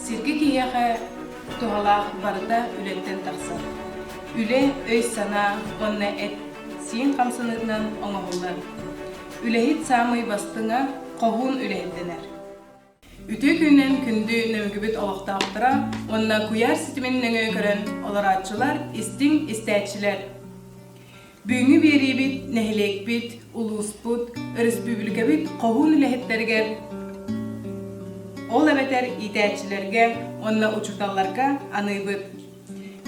Сиргэ киһиэхэ туһалаах барыта үлэттэн тахсар. Үлэ өй-санаа уонна эт-сиин хамсаныытынан оҥоһуллар. Үлэһит саамай бастыҥа хоһуун үлэһиттэнэр. Үтүө күнүнэн күндү нөҥүгүбүт олохтоохторо уонна куйаар ситимин нөҥүө көрөн олорооччулар, истиҥ истээччилэр! Бүгүҥҥү биэриибит нэһилиэкпит, улууспут, өрөспүүбүлүкэбит хоһуун үлэһиттэригэр, ол эбэтэр иитээччилэргэ уонна учууталларга аныыбыт.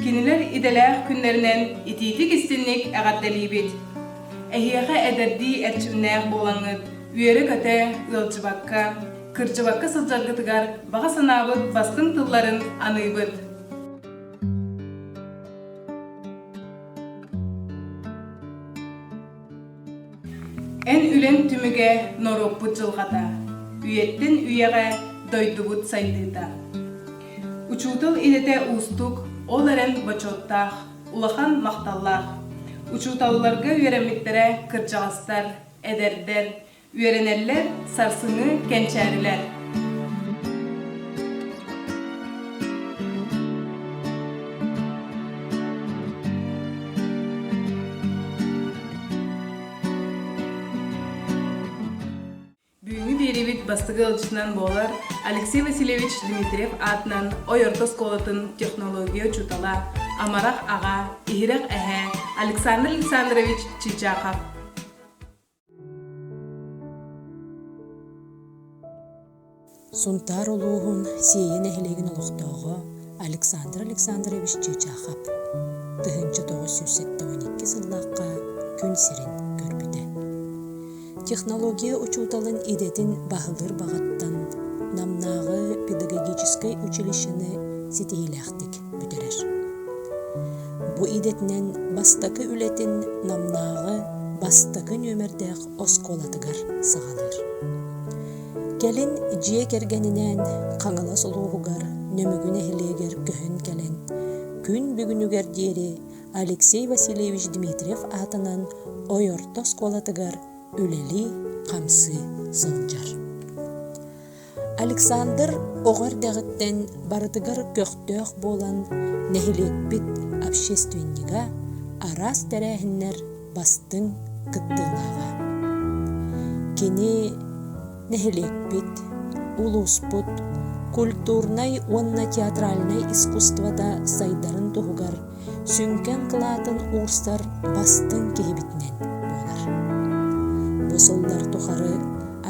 Кинилэр идэлээх күннэринэн итиитик-истинник эҕэрдэлиибит! Эһиэхэ эдэрдии эрчимнээх буолаҥҥыт үөрэ-көтө, ыалдьыбакка, кырдьыбакка сылдьаргытыгар баҕа санаабыт бастыҥ тылларын аныыбыт! Эн үлэҥ түмүгэ норуоппут дьылҕата, үйэттэн үйэҕэ дойдубут сайдыыта. Учуутал идэтэ уустук, ол эрэн бочуоттаах, улахан махталлаах. Учууталларга үөрэммиттэрэ кырдьаҕастар, эдэрдэр, Үөрэнэллэр, сарсыҥҥы кэнчээрилэр. Бүгүҥҥү биэрэбит бастакы ыалдьытынан буолар Алексей Васильевич Дмитриев аатынан Ойорто оскуолатын технология учуутала, амарах аҕа, иһирэх эһээ Александр Александрович Чичахов Сунтаар улууһун Сиэйэ нэһилиэгин олохтооҕо Александр Александрович Чычахов тыһыынча тоҕус сүүс сэттэ икки сыллаахха күн сирин көрбүтэ. Технология учууталын идэтин баһылыыр баҕаттан Намнааҕы педагогическай училищены ситиһиилээхтик бүтэрэр. Бу идэтинэн бастакы үлэтин Намнааҕы бастакы нүөмэрдээх оскуолатыгар саҕалыыр. Кэлин дьиэ кэргэнинээн Хаҥалас улууһугар Нөмүгү нэһилиэгэр көһөн кэлэн, күн бүгүнүгэр диэри Алексей Васильевич Дмитриев аатынан Ойорто оскуолатыгар үлэлии-хамсыы сылдьар. Александр оҕо эрдэҕиттэн барытыгар көхтөөх буолан, нэһилиэкпит общественнига, араас тэрээһиннэр бастыҥ кыттыылааҕа. Кини нэһилиэкпит, улууспут культурнай уонна театральнай искусствота сайдарын туһугар сүҥкэн кылаатын уурсар бастыҥ киһибитинэн буолар. Бу сыллар тухары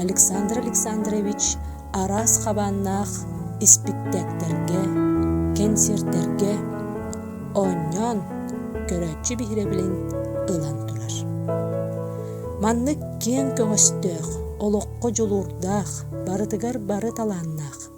Александр Александрович араас хабааннаах испиктээктэргэ, кэнсиэртэргэ оонньоон, көрөөччү биһирэбилин ылан турар. Маннык киэҥ көҕөстөөх, олоххо дьулуурдаах, барытыгар бары талааннаах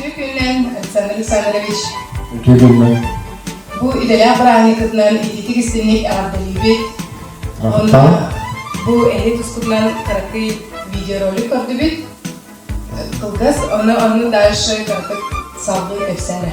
Үтүө күнүнэн, Александр Александрович. Үтүө күнүнэн. Бу идэлээх бырааһынньыккытынан ититик-истинник эҕэрдэлиибит. Онно бу эһи тускутунан кыракый видеоролик көрдүбүт. Кылгас, ону оннук дальше кыртык салбыы кэпсэнэ.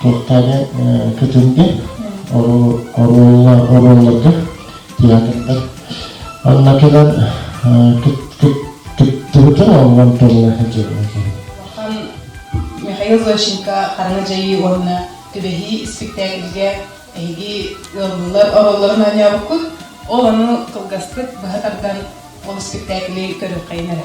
кэккэлэ көтүллэ оруолларга театрдар оннукинан кыттыбытым оллон турунаха дьиэбин Михаил Зощенко хараҥа дьайыы уонна түбэһии испиктээкилгэ эһиги ыаллылар оруолларын оонньообуккут ол ону кылгастык быһа тардан ол испиктээкили көрүөххэйин эрэ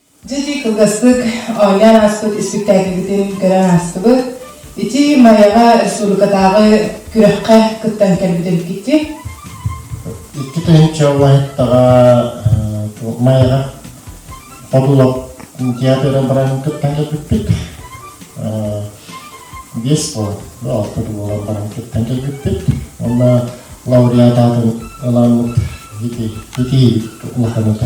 Дьиди кылгастык оонньоон ааспыт испиктээкилбитин көрөн аастыбыт. Ити Майаҕа республикатааҕы күрэххэ кыттан кэлбитим икки. Икки тыһыынча убаһыттаҕа Майаҕа Подулов театр абырарын кыттан кэлбиппит. Биэс буолан, алтыт буолан баран кыттан кэлбиппит. Уонна лауреат аатын ылааммыт итиһибит улаханыта.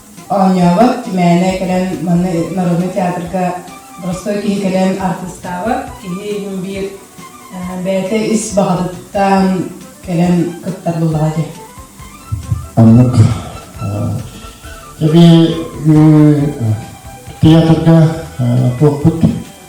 оонньообот мээнэ кэлэн манна народнай театрга простой киһи кэлэн артыыстаабат киһи иһин биир бэйэтэ ис баҕатыттан кэлэн кыттар буоллаҕа дии оннук эбии театрга туохпут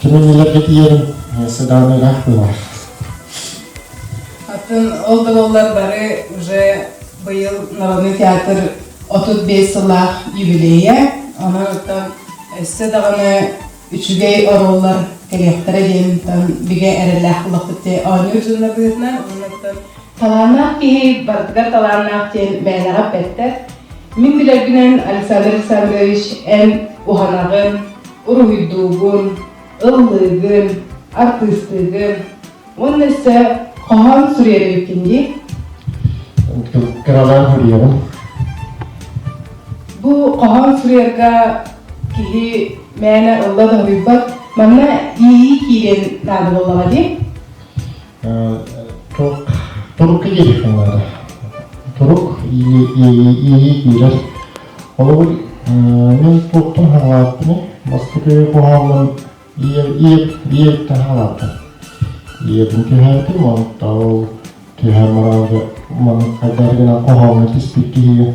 Кимин илэргэ тиийэрин сыдааны ыраах булар. Атын ол да боллар бары уже быйыл Народный театр 35 сыллаах юбилея. Онортан өссө даҕаны үчүгэй ороллар кэлиэхтэрэ диэн бигэ эрэлээх булахпыт оонньуу журналыытынан оннуттан талааннаах киһи барытыгар талааннаах диэн бэйэлэҕэ бэттэр. Мин билэргинэн Александр Александрович эн уһанаҕын, уруһуйдуубун, ыллыыгын, артыыстыыгын уонна өссө хоһоон суруйарбиккин дии? Курдук кыралаан суруйабын. Бу хоһоон суруйарга киһи мээнэ ылла да суруйбат. Манна иэйии киириэн наада буоллаҕа дии? турук турукка киириэххин наада турук иэйии киирэр холобур мен туохтан хаалааппыный бастакы куһааммын ийэбиттэн хаалааппын ийэбин түһээтим онтон түһэ мыраады маны хайдары гынан куһаамҥа түспүт киһигэ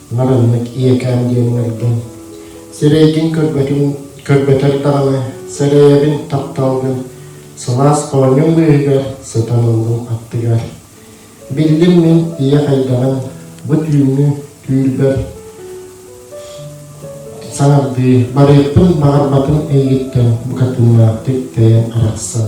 Мараннык ийэкээм диэн ыҥырдым. Сирэйгин көрбөтүн, көрбөтөр даҕаны, сэрэйэбин, тапталгын, сылаас хоонньун быыһыгар сытан ыллым аттыгар. Биллим мин ийэ хайдаҕын, бу түүҥҥү түүлбэр саҥардыы барыахпын баҕарбатым эйигиттэн букатыннаахтык тэйэн арахсан.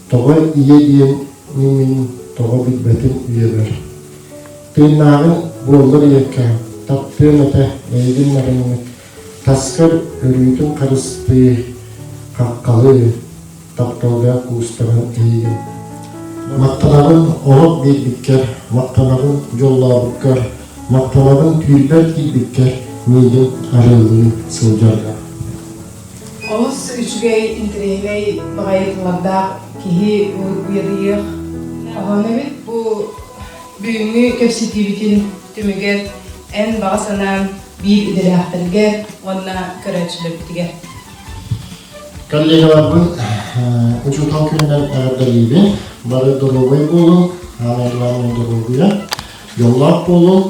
Тоҕо ийэ диэн мин тоҕо билбэтим үйэбэр. Тыыннааҕын буоллар ийэкэ, таптыам этэ бэйигин наҕыннык, таскар өрүүтүн харыстыы, хаххалыы, тапталлаах куустарын эйигин. Махтанабын оһох биэрбиккэр, махтанабын дьоллообуккар, махтанабын түүлбэр киирбиккэр миигин арыылыы сылдьарга. Олус үчүгэй, интэриэһинэй, баҕайытылардаах киһи uyarыйыах хоһоон эбит. Бу бүгүҥҥү кэпсэтиибитин түмүгэр эн баҕа санаан биир идэлээхтэргэ уонна көрөөччүлэрбитигэр. Коллегаларбын учуутал күнүнэн эҕэрдэлиибин. Бары долуобай буолуҥ, анаан главное долуобуйа, дьоллоох буолуҥ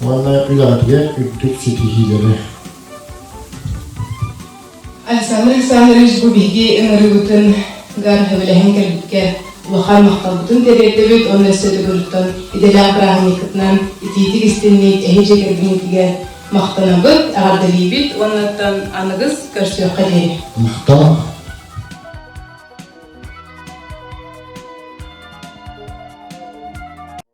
уонна үлэҕитигэр үрдүк ситиһиилэри. Александр Александрович бу биһиги ыҥырыыбытын гар сөбүлэһэн кэлбиккэ улахан махталбытын тириэрдэбит уонна өссө төгүлүттэн идэлээх бырааһынньыккытынан итиитик истинник эһиги кэргэҥҥитигэр махтанабыт, эҕэрдэлиибит уоннаттан аныгыс көрсүөххэ диэри. Махтал.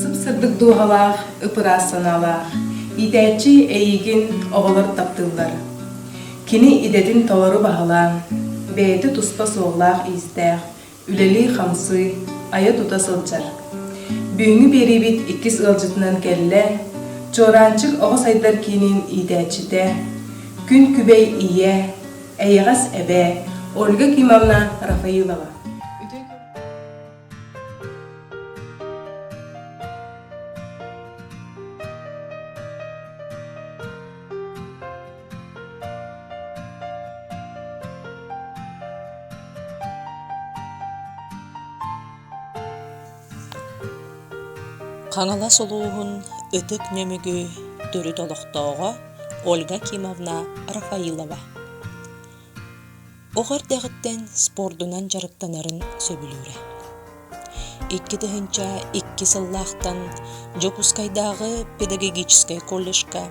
сыпсырдык дууһалаах ып-ыраас санаалаах иитээччи эйиигин оҕолор таптыыллар кини идэтин толору баһылаан бэйэтэ туспа суоллаах-иистээх үлэлии-хамсыы, айа-тута сылдьар. Бүгүҥҥү биэриибит иккис ыалдьытынан кэллэ, Чуораанчык оҕо сайдар киинин иитээччитэ, Күн Күбэй ийэ, эйэҕэс эбээ Ольга Кимовна Рафаилова. Хаҥалас улууһун ытык нөмүгү төрүт олохтооҕо Ольга Кимовна Рафаилова Оҕо эрдэҕиттэн спордунан дьарыктанарын сөбүлүүрэ. Икки тыһыынча икки сыллаахтан Дьокуускайдааҕы педагогическай колледжка,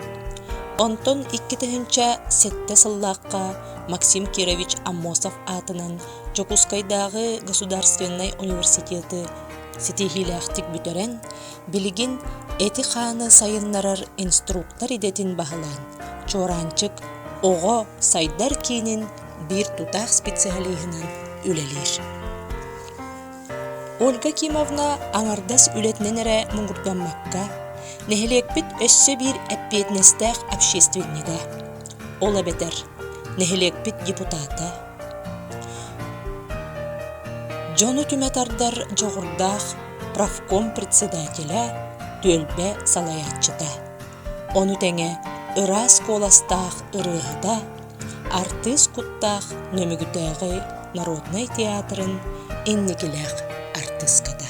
онтон икки тыһыынча сэттэ сыллаахха Максим Кирович Аммосов аатынан Дьокуускайдааҕы государственнай университеты ситиһиилээхтик бүтэрэн, Билигин эти-хааны сайыннарар инструктор идэтин баһылаан Чуораанчык оҕо сайдар киинин биир тутаах специалиһынан үлэлиир. Ольга Кимовна аҥардас үлэтинэн эрэ муҥурдаммакка, нэһилиэкпит өссө биир эппиэтинэстээх общественнига. Ол эбэтэр нэһилиэкпит депутата, Дьону түмэ тардар дьоҕурдаах профком председателэ, түөлбэ салайааччыта, ону тэҥэ ыраас куоластаах ырыаһыта, артыыс куттаах Нөмүгүтээҕи народнай театрын инникилээх артыыската.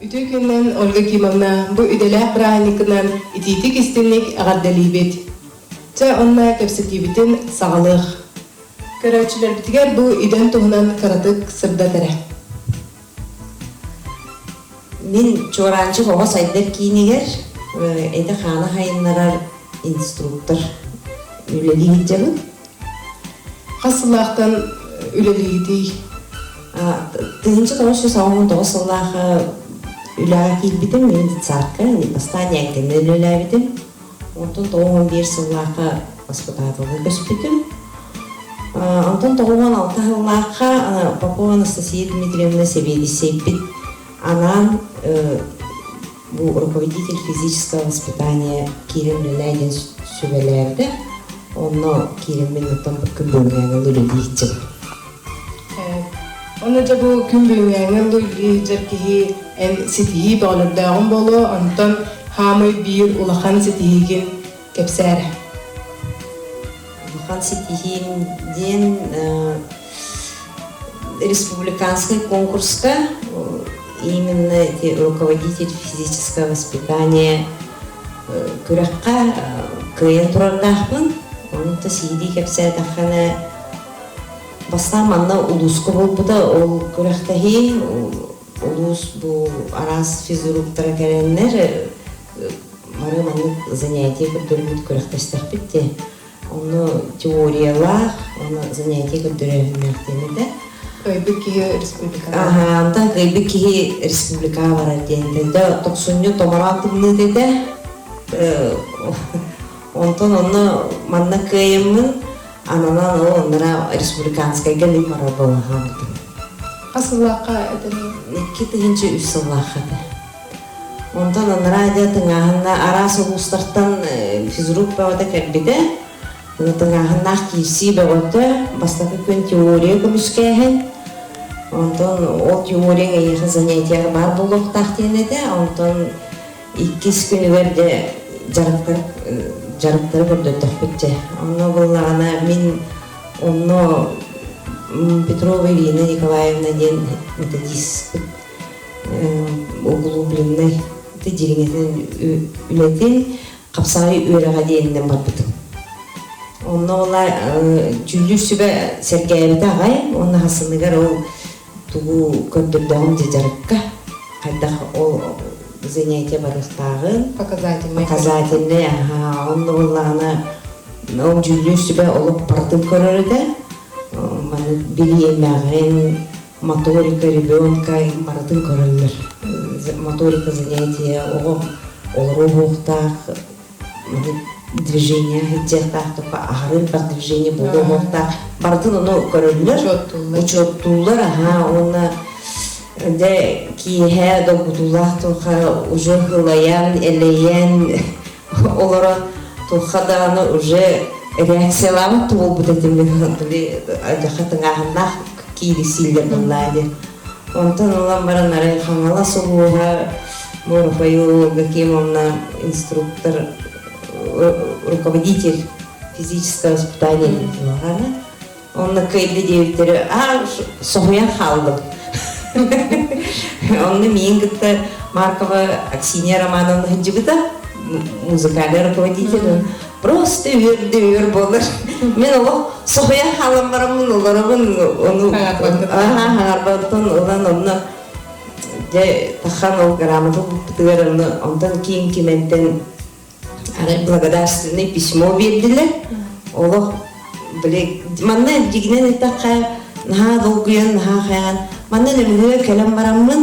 Үтүө күннэн Ольга Кимовна бу идэлээх бырааһынньыкынан итиитик истинник эҕэрдэлиибит. Чэ, онно кэпсэтиибитин саҕалыах. Көрөөччүлэрбитигэр бу идэм туһунан кыратык сырдатара. Мин Чуораанчык оҕо сайдар киинигэр эти-хааны сайыннарар инструктор үлэлиир дьабын. Хас сыллаахтан үлэлиирдий? Тыһынча тоҕус жүз саҕа он тоҕус сыллаах үлэҕэ киирбитим, мен детсадка, бастаан Янканы үлэлээбитим. Онтон тоҕум он биир сыллаахха госпиталга көспүтүм. Онтон тоҕум он алта сыллаахха Попова Анастасия Дмитриевна сэбиэдиссэйбит анаан бу руководитель физического воспитания киирэн үлэлээ диэн сүбэлээбитэ. Онно киириммин оттон күн бүгүнээҕи олору диэччим. Оны дьэ бу күн бүгүҥҥээҥи ыллы илдьэр киһи эн ситиһии бөҕөлөрдөөҕүн буолуо, онтон хаамый биир улахан ситиһиигин кэпсээрэ. Улахан ситиһиим диэн республиканскай конкурска именно эти руководитель физического воспитания күрэххэ кыайан турардаахпын. Онута сиһилии кэпсээтэххинэ Бастаан манна улууска буолбута ол күрэхтэһии улуус бу араас физруктара кэлэннэр бары маннык занятие көрдөрбүт күрэхтэстэхпит дии онно теориялаах онно занятие көрдөрөөһүннээхтиэн этэ кыйбыт киһи республикаҕа аха анда кыйбыт киһи республикаҕа барар диэн да тохсунньу томоро атынныыт этэ Онтон онно манна кыайыммын ананан ол оннура республиканскайга лип барар буола хаалбытым. Хас сыллаахха этэнии? Икки тыһынчы үс сыллаахха этэ. Онтон анараа тыҥааһынна араас улуустартан э, физрук бөҕөтө кэлбитэ. Тыҥааһыннаах киирсии бөҕөтө, бастакы күн теория көмүскээһин. Онтон ол теорияң эйиэхэ занятиер баар буолуохтаах диэн этэ. Онтон иккис күнүгэр дьэ дьарыктар дьарыктары көрдөрдөхпүт дьэ онно буллаҕына мин онно Петрова Ирина Николаевна диэн методистпыт углубленнай дьириҥэтин үлэтин хапсаҕай үөрэҕэ диэҥинэн барбытым онно ула дьүүллүүр сүбэ сэргээбитэ аҕай уонна хасыныгар ол тугу көрдөрдөҕүн дьыдьарыкка, хайдах ол занятие барыстааҕын, показательнай показательнай аһааҕын да буоллаҕына ол дьүүллүүр сүбэ олох барытын көрөр этэ маны билиэмэҕин моторика ребенка барытын көрөллөр моторика занятия оҕо олору уһуохтаах движение иһитсиэхтаахтык аһарыы турар движение буолуо уһуохтаах барытын ону көрөллөр учуоттууллар аһаа уонна дэ киэһэ долгутуулаах туохха уже хылайан элэйэн олоро туохха даҕаны уже реакциялаабат да буолбут этим биле адьаха тыҥааһыннаах киирисииллэр буоллаа диэн Онтон ылан баран арай Хаҥалас улууһа Боропай уолга кем онна инструктор руководитель физическое воспитание диэтим онно кэлли диэбиттэри аа соһуйан хаалдым онно миин кытта Маркова Аксинья Романовна сыдьыбыта музыкальный руководитель просто үһүрдүүр болар мен олох соһуйа хаалыммараммын олоробун ону аарбаттан улан онно дьэ тахан ол грамота булпутугар ону онтон киин киментен арай благодарственный письмо бердилер олох биле манна дигинен эттэххэ наһаа долгуйан наһаа хайан манна нөмүгө кэлэн бараммын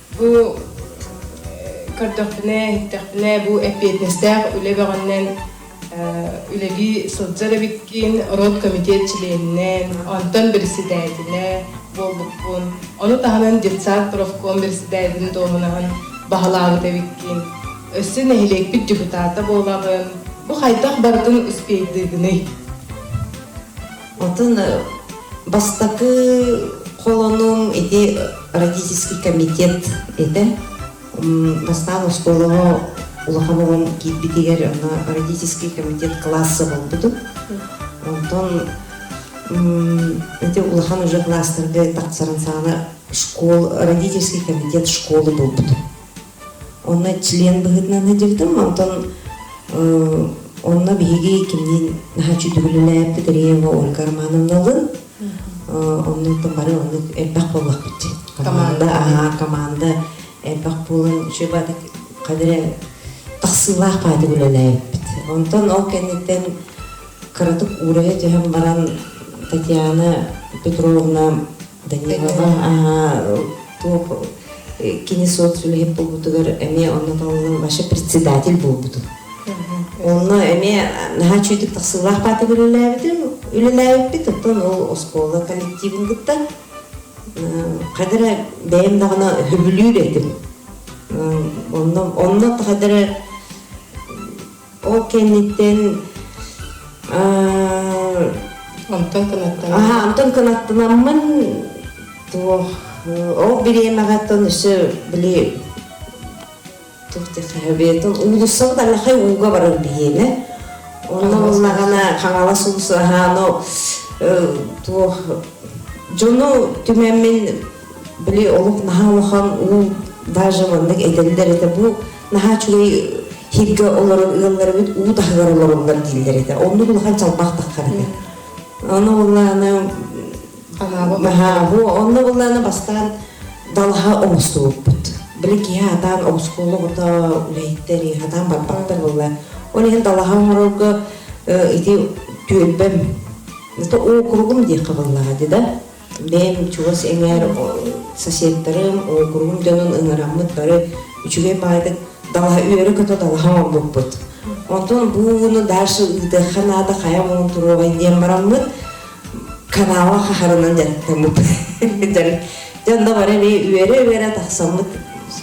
Бу көрдөхпүнэ, иһиттэхпинэ, бу эппиэтинэстээх үлэ бөҕөннөн үлэлии сылдьар эбиккин, род комитет чилиэнинэн, онтон бэрэссэдээтинэ буолбуппун. Ону таһынан детсад профком бэрэссэдээтин дуоһунаһын баһылаабыт эбиккин. Өссө нэһилиэкпит депутата буолаҕын. Бу хайдах барытын успейдыыгыный? Атын бастакы холонум ити родительский комитет этэ. Бастаан оскуолаҕа улахан оҕом киирбитигэр аны родительский комитет класса болбутум. Онтон эти улахан уже класстарга тахсарын саана школ родительский комитет школы булбутум. Онно член быһыытынан сылдьыбытым, онтон онно биһиги кимниин наһаччы түгүлүлээбит Реева Ольга Романовналын оннуттан бары оннук элбэх буоллахпыт команда аһаа команда элбэх буолан шебатык қадіре тахсыылаах паатык үлэлээбиппит онтон ол кэнниттэн кыратык уурайа түһэн баран татьяна петровна кини суот үлэһит буолбутугар эмиэ онно талылын вообще председатель буолбутум онно эмиэ наһаа чүүтүк тахсыылаах паатык үлэлээбитим үлэлээбиппит оттон ол оскуола коллективин кытта қадара бэйэм даҕана сөбүлүүр этим онно онно тахадара Ол кэнниттэн онтон кынаттанам. Аха, онтон кынаттанаммын туох ол бириэмэҕэттэн өссө били туох диэххэ уулуссабыт аллахай ууга барар бириэмэ. Онно буллаҕына Хаҥалас уулусса аһаано туох дьону түмэммин били олох наһаа улахан уу даже маннык этэллэр этэ бу наһаа үчүгэй хииргэ олорон ыаллар эбит уу таһыгар олороллор дииллэр этэ оннук улахан чалбах таххар этэ аны былааны онно былааны бастаан далаха оҕустубуппут били киһи атаан оҕускуола оҕото үлэһиттери атаан барбаттар болла ол иһин далаха оҥорорго ити түөлбэм это округум диэххэ быллаҕа да бэйэм чугас эҥээр соседтарым, уокуруум дьонун ыҥыраммыт бары үчүгэй баайдык далаһа үөрэ-көтө далаһа оҥорбуппут. Онтон бууну дальше ыытыахха наада хайа муҥун туруоҕай диэн бараммыт канала хаһарынан дьарыктаммыт. Дьон да бары эмиэ үөрэ-үөрэ тахсаммыт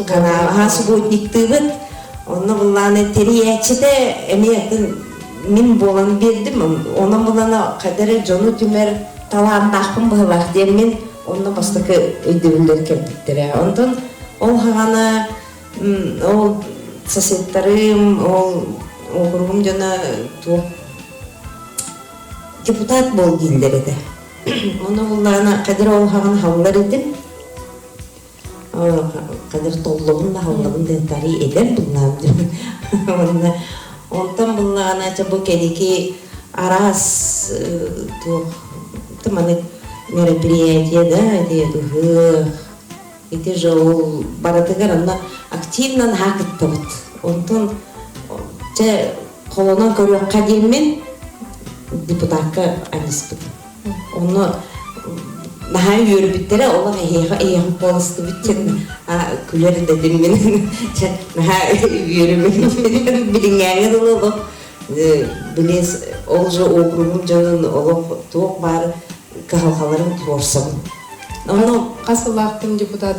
каналаһа субботниктыыбыт. Онно буллаан тэрийээччитэ эмиэ мин буолан биэрдим. Онон булана кадары дьону түмэр талааннаахпын быһылаах диэммин онно бастакы өйдөбүллэр кэлбиттэрэ онтон ол хаҕана ол соседтарым ол округум дьоно туох депутат бол дииллэр этэ оны буллаана кадыр ол хаҕын халлар идим кадыр толлобун наһыллабын дентарий эдэр тумнаам дим уонна онтон буллаҕына ча бу кэдики араас туох маны мероприятие да этиэ ыһыах ити жол барытыгар анна активнан хаакыттабыт онтон чэ холонон көрүөххэ диэммин депутакка анниспыт Ону наһаа үөрбүттэрэ олох эһиэхэ эһиэхэ буоластыбыт диэн күлэр дэтим мин наһаа үөрүмүн билиҥҥээҥи дылы олох билиэс ол же округум дьонун олох туох баар кыһалҕаларын туорсабын онно хас сыллаахтын депутат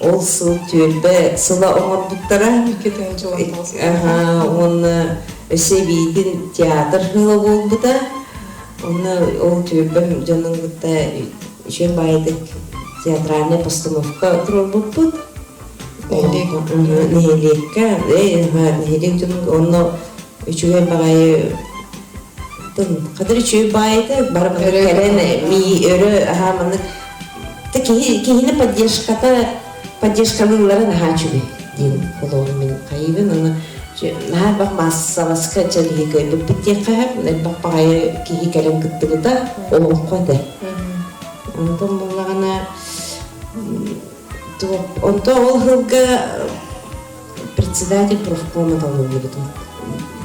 Ол сыл түөлбэ сыла оҥорбуттара уонна Өсөбиитин театр сыла буолбута уонна ол түөлбэм дьонун кытта үчүн баайытык театральная постановка турарбыппыт нэһилиэккэ нэһилиэк түмүк онно үчүгэй баҕайы тыл хатыр үчүгэй баайыта бары кэлэн мии өрө аһаа маннык киһи киһини поддержката поддержкалыылларын аһаа үчүгэй диэн холоорум мин хайыгын аны наһаа бах маассаласка чэлиһи көйдүппүт диэххэ элбэх баҕайы киһи кэлэн кыттыбыта олоххо этэ онтон буллаҕына онто ол сылга председатель профкома талыллыбытым.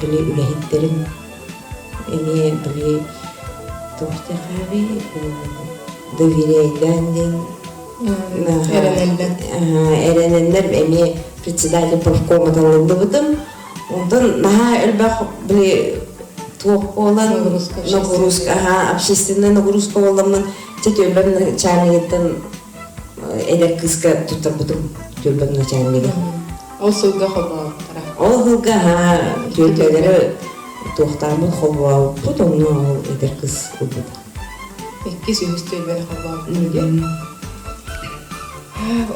Били үлэһиттэрим эмиэ били тохтехави доверяйтан дин эрененнер эмиэ председатель профкома талыллыбытым. Онтон наһаа элбэх били туох болан нагрузка общественная нагрузка болламын тетөллөн начальнигиттен эдэр кыыска туттарбытым түөлбэм начаан мигэн ол сылга хобооттара ол сылга түөлбэлэри туохтааммыт хобооппут онно ол эдэр кыз ылбыт иккис үһүс түөлбэлэр хобооппут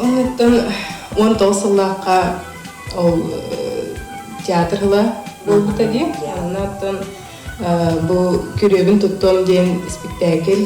оннуттан он тоғыз сыллаахха ол театр ыла буолбута дии аннаттан бу күрүөбүн туттуом диэн спектакль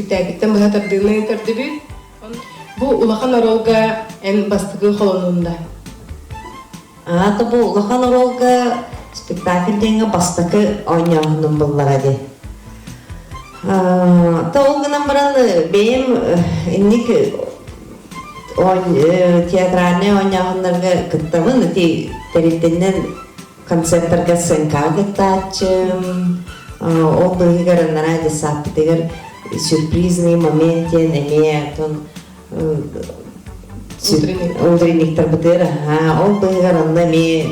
Бүттээбиттэн быһа тардыынан тардыбыт. Бу улахан оролга эн бастакы холонунда. Аата бу улахан оролга спектакль диэҥэ бастакы оонньооһунум буллара ди. Та ол гынан баран бэйэм инник театральнай оонньооһуннарга кыттабын, ти тэрилтэннен концертарга сценкаҕа кыттааччым ол быыһыгар анараа детсадпытыгар сюрпризный момент диэн эмиэ отон утренниктарбытыгар аһаа ол быыһыгар онно эмиэ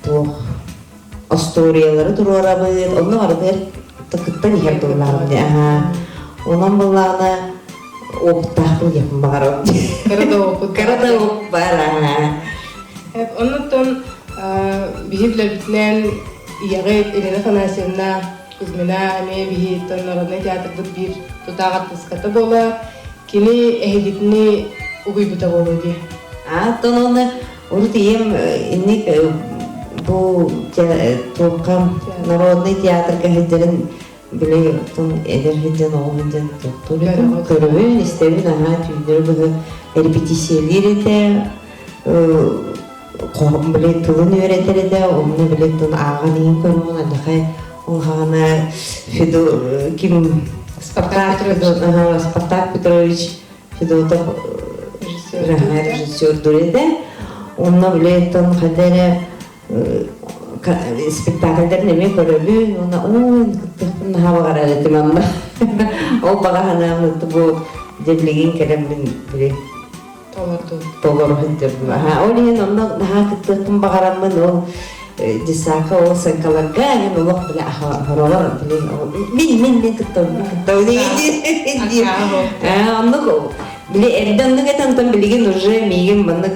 туох остуоруйалары туруорабыт онно барытыгар кыттан иһэр быллаабын аһаа онон быллаана Оттаахпын диэхпин баҕарабын. Кыра доҕуккут. Кыра доҕук бара. Оннуттан биһи билэрбитинэн ийэҕит Ирина Афанасьевна Кузьмина эмиэ биһи Народнай театрбыт биир тутаах артыската буола кини эһигитини угуйбута буолуо дии. Ааттан оны урут ийем инник бу туохха народный театрга сылдьарын Били оттон эдэр сылдьан оҕо сылдьан туохтуу бөтүн көрөбүн, истэбин наһаа түүннэри быһа репетициялыыр этэ, билет тылын үөрэтэр этэ, онно билет тылын ааҕан иһин көрөҕүн алиха улаана Федо ким Спартак Спартак Петрович Федотов режиссер режиссер дур этэ. Онно билеттон хадара спектакльдарын эмиэ көрөбүн уонна ой кыттыахпын наһаа баҕарар этимэн да ол баҕаһынаан бу дэммигин кэлэммин били толору сылдьырбын ол иһин онно наһаа кыттыахпын баҕараммын ол десака ол сыҥкаларга эн олох бile хоролор билин мин мин мин кыттабын кыттабын дии оннук били эрдэ оннук этэн тон билигин уже миигин маннык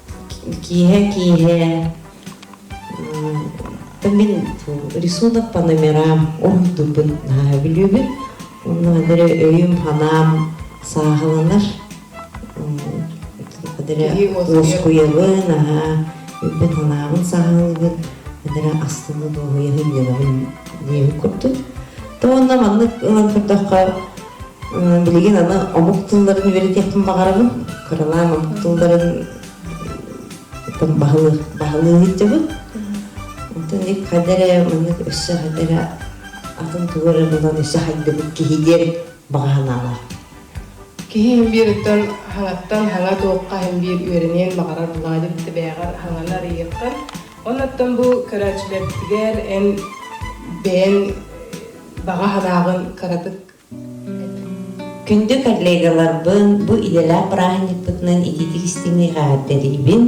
киэһэ киэһэ мин рисунок по номерам уруйдуубун наһаа билүүбүн онно дары өйүм санаам сааһыланар уоскуйабын аhaa үйбүн санаабын саһылыбын эдere астыны дуоһуйаһын дьанабын диэбит курдук то онно маннык ылан көрдөххө билигин аны омук тылларын үөрэтиэхпин баҕарабын кыралаан омук тылларын баһылыы сылдьабын оттон ик хадэрэ маннык өссө хадэрэ атын тугары булан өссө хайдыбыт киһи диэри баҕа санаалар киһи иһин биэриттэн хаҥаттан хаҥа туохха иһин биир үөрэниэн баҕарар булаады битэ бэйэҕэр хаҥаны арыйыаххын оннаттан бу көрөөччүлэртигэр эн бэйэн баҕа харааҕын кыратык күндү коллегаларбын бу идэлээх бырааһынньыкпытынан итиитик истиниэҕэ тэрийбин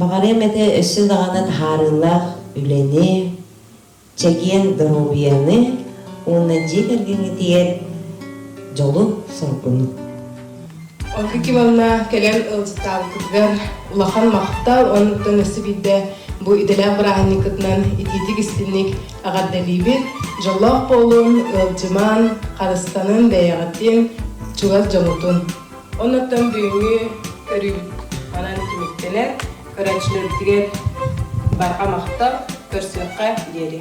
баҕарыам этэ өссө даҕаны таһаарыылаах үлэни чэгиэн доруобуйаны уонна дьиэ кэргэҥҥитигэр дьолу соргуну Ольга Ивановна кэлэн ылдьыттаабыккытыгар улахан махтал оннуттан өссө биирдэ бу идэлээх бырааһынньыккытынан итиитик истинник эҕэрдэлиибит дьоллоох буолун ыалдьыман харыстанын бэйэҕитин чугас дьоҥутун оннуттан бүгүҥҥү көрүү манан түмүктэнэр көрөөччүлөргүтүгэр барҕа махтал көрсүөххэ диэри